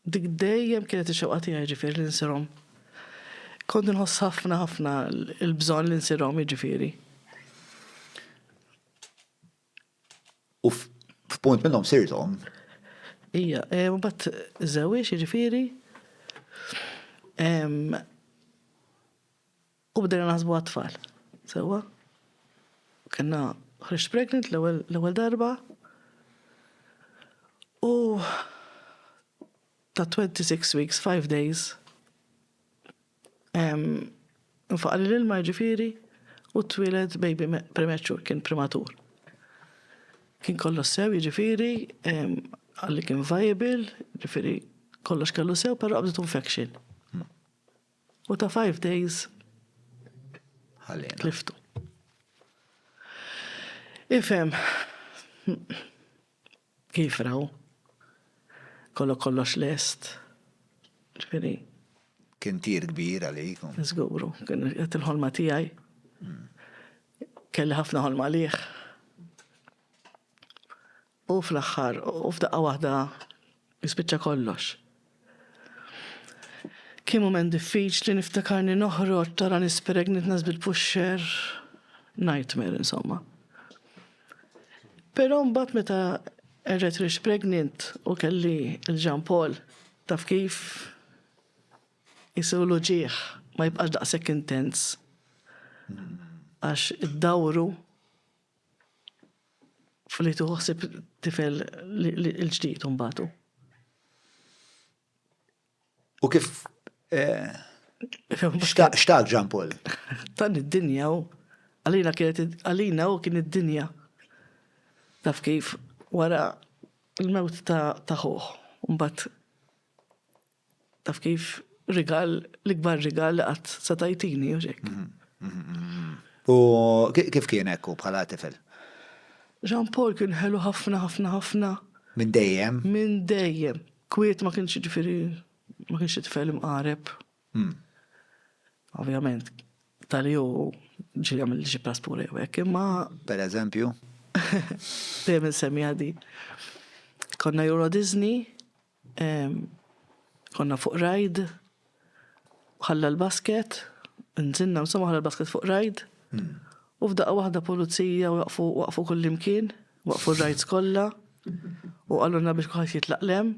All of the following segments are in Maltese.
Dik dejjem kienet ix-xewqa tiegħi jiġifieri li nsirhom. Kont inħoss ħafna ħafna l-bżonn li nsirhom jiġifieri. U f'punt minnhom sirthom? Ija, e, u bat żewiex jiġifieri. U bdejna naħsbu għat-tfal. Sewwa? Kellna ħriġt pregnant l-ewwel darba. U ta' 26 weeks, 5 days, nfaqali l-ilma jiġifieri u twieled baby premature, kien prematur. Kien kollox sew jiġifieri, qalli kien viable, jiġifieri kollox kellu sew, però qabditu infection. U ta' five days tliftu. Ifhem, kif raw, kollok kollox lest, ġifieri. Kien tir kbir għalik. Żguru, kien qed il-ħolma tiegħi. Kelli ħafna ħolma għalih. U fl-aħħar, u f'daqqa waħda jispiċċa kollox. Kien mument diffiċli, niftakarni noħroġ tara nispireg nitnaż bil-puxxer, nightmare insomma. Però mbagħad meta erġajt rix pregnant u kelli l-Ġan Paul, taf kif? Isiru l-uġigħ ma jibqax daqshekk intens. Għax iddawru F'li tieħu ħsieb tifel il-ġdid imbagħad u. U kif xtaq Ġan Paul? Tan id-dinja u għalina kienet għalina u kien id-dinja. Taf kif wara l-mewt ta' ħuħ, mbagħad Taf kif, rigal, l-ikbar rigal li qatt se tajtini, u xek. U kif kien ekku bħala tifel? Jean Paul kien ħelu ħafna, ħafna, ħafna. Minn dejjem? Minn dejjem. Kwiet ma kienx ġifiri, ma kienx tifel imqareb. Hmm. Ovvjament, tal jow ġi għamil xi praspura jew hekk, imma. Per eżempju? Dejjem insemmi għadi. Konna Euro Disney, Konna fuq rajd, ħalla l-basket, nżinna insomma ħalla l-basket fuq rajd, hmm. u f'daqqa waħda pulizija waqfu waqfu kullimkien, waqfu r-rajds kollha, u għalluna biex kuħat jitlaqlem,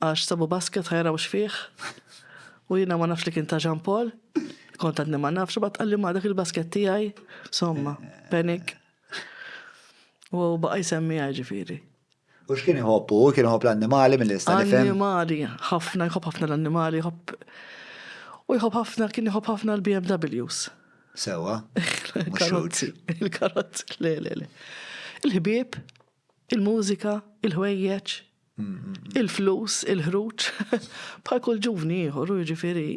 għax sabu basket ħajra u xfieħ, u jina ma nafx li kien ta' Jean Paul, kont għadni ma nafx, bat għalli ma dak il-basket tijaj, somma, penik. U baqa jisemmi ġifiri. U x'kien iħobb hu? Kien iħobb l-annimali milli nista' nifhem? Annimali, ħafna, jħobb ħafna l-annimali, jħobb u jħobb ħafna, kien iħobb ħafna l-BMWs. Sewa? Il-karozzi, il-karozzi, le, le, le. Il-ħbieb, il-mużika, il-ħwejjeġ, il-flus, il-ħruġ, bħal kull ġuvni ieħor, u jiġifieri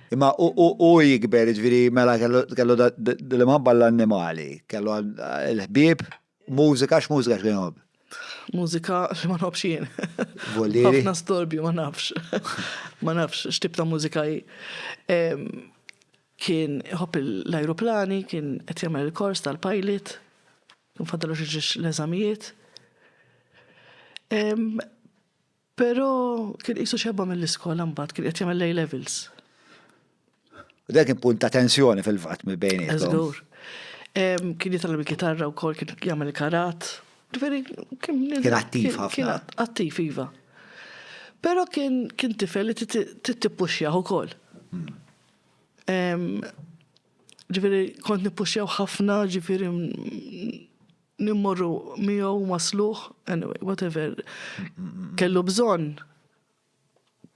Imma u jikber, ġviri, mela kellu l-imħabba l-annimali, kellu l-ħbib, mużika, x-mużika xkien jħobb? Mużika li ma nħobbx jien. Vollieri? Ħafna storbju, ma nafx. Ma nafx, xtib ta' mużika hi. Kien jħobb l-ajruplani, kien qed jagħmel il-kors tal-pilot, kien faddalu xi l-eżamijiet. Però kien qisu xebba mill-iskola mbagħad kien qed jagħmel l-A-levels. U dak kien punt ta' tensjoni fil-fatt mill bejniethom. Żgur. Kien jitgħallem il-kitarra wkoll kien jagħmel karat. Ġifieri kien kien attiv ħafna. Kien attiv iva. Però kien kien tifel li tippuxxjah ukoll. Hmm. Ġifieri kont nippuxxjaw ħafna ġifieri Nimmorru miegħu wasluh, anyway, whatever. Kellu bżonn.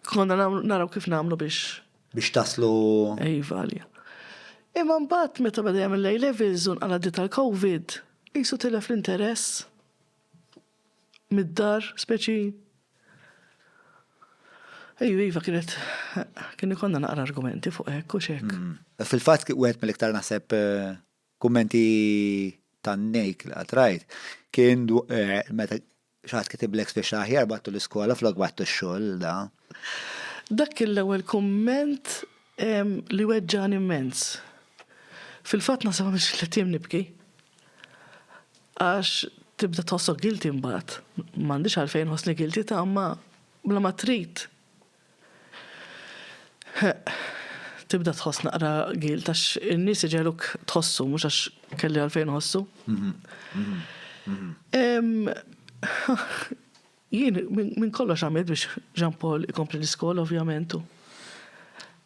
Konna naraw kif nagħmlu biex. Biex taslu. Iva, għalija. Imma mbagħad meta bada jagħmel lej levels un għal tal-COVID, qisu tilef l-interess mid-dar speċi. Ejju, iva kienet, kien ikonna naqra argumenti fuq hekk u xek. Mm. Fil-fatt wieħed mill-iktar naħseb eh, Kummenti tan-nejk li qatt rajt kien meta xi ħadd kitiblek spiċċa aħjar bgħattu l-iskola flok bgħattu x-xogħol da. Dak kien l-ewwel kumment li weġġagħni immens. Fil-fatt naħseb għamilt xi tliet ijiem nibki. Għax tibda tħossok guilty mbagħad. M'għandix għalfejn inħossni guilty ta' imma bla ma trid Ħeqq, tibda tħoss naqra gilt għax in-nies iġegħluk tħossu mhux għax kelli għalfejn iħossu. Jien minn kollox għamilt biex Jean Paul ikompli l-iskola ovvjament u.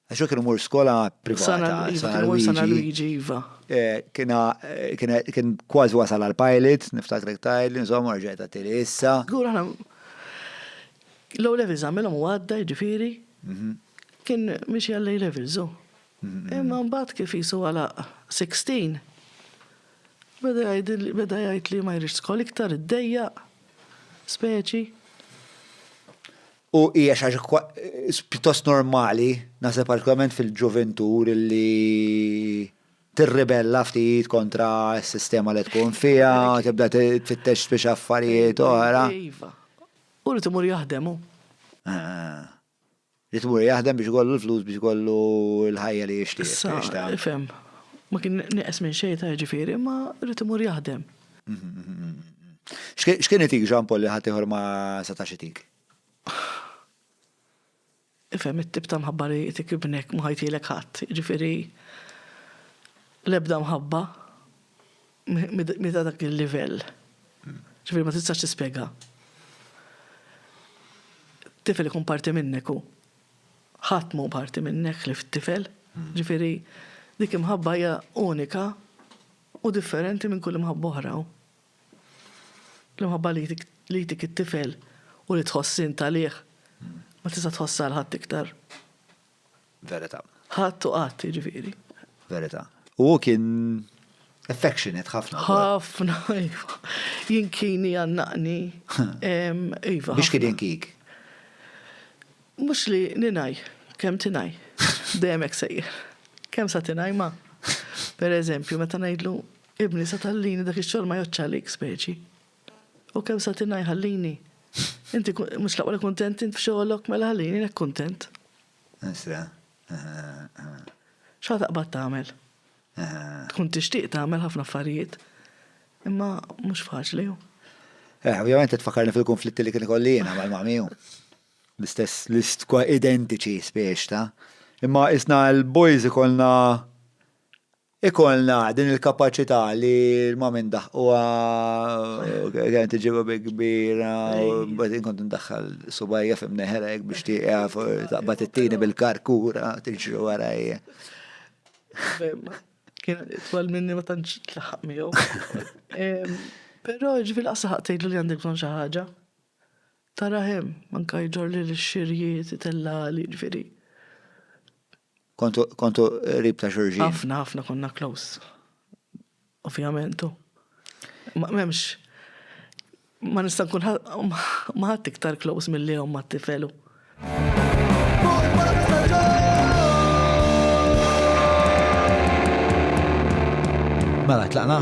Għax hu kien imur skola privata. Sana Luigi, iva. Eh, kien kważi wasal għal pilot, niftakrek tajli, insomma rġajt għattili issa. Gura, L-O levels għamilhom u għadda jiġifieri kien mixi għall A levels hu. Imma mbagħad kif qisu għalaq 16 beda jgħidil beda jgħid li ma jridx skola iktar iddejjaq speċi. U hija xi ħaġa pjuttost normali naħseb partikolarment fil-ġuvintur li tirribella ftit kontra s-sistema li tkun fiha, tibda tfittex biex affarijiet oħra. Iva. Hu rrid imur jaħdem hu. Rrid imur jaħdem biex ikollu l-flus biex ikollu l-ħajja li jixtieq. Issa, ifhem. Ma kien nieqes minn xejn ta' jiġifieri, imma rrid imur jaħdem. X'kien itik Jean Paul li ħaddieħor ma setax itik? Ifhem it-tip ta' mħabba li jtik ibnek ma ħajtilek ħadd, jiġifieri l-ebda mħabba mhi ta' dak il-livell. Jiġifieri ma tistax tispjegha. Tifel ikun parti minnek hu. Ħadd mhu parti minnek ħlief it-tifel. Jiġifieri dik imħabba hija unika u differenti minn kull imħabba oħra. L-imħabba li jtik it-tifel u li tħoss int għalih ma tista' tħossha għal ħadd iktar. Verità. Ħadd u qatt, jiġifieri. Verità. U hu kien affectionate ħafna. Ħafna, iva. Jinkini għannaqni. Iva. Biex kien jinkik? Mhux li ninaj, kemm tinaj. Dejjem hekk sejjer. Kemm sa tinaj ma. Per eżempju, meta ngħidlu Ibni, sa tgħallini dak ix-xogħol ma jgħoddx għalik, speċi. U kemm sa tingħi ħallini. Inti mhux l-aqwa li kuntent int f'xogħolok mela ħallini hekk kuntent. Isra. Xa taqbad tagħmel? Tkun tixtieq tagħmel ħafna affarijiet, imma mhux faċli. Eh, ovvjament tfakarni fil-konflitti li kien ikollina mal-mamiju. L-istess list kwa identiċi spiex ta' Imma isna l-boys ikolna Ikollna din il-kapaċità li ma minn daħquha kien tiġibu bi kbira u bad inkont ndaħħal subajja fim neħrek biex tieqaf taqbad it-tieni bil-karkura tiġri warajja. Kien twal minni ma tantx tlaħaq miegħu. Però ġifieri laqas laħaq tgħidlu li għandek bżonn xi ħaġa. Tara hemm, anke jġorrli lix-xirjiet, itellagħli, ġifieri. Kontu, kontu rib ta' xurġin. Ħafna, ħafna konna close. Ovvijament, u. Ma memx. Ma nista' nkun ma ħadd iktar close mill-li jom ma tifelu. Mela, tlaqna?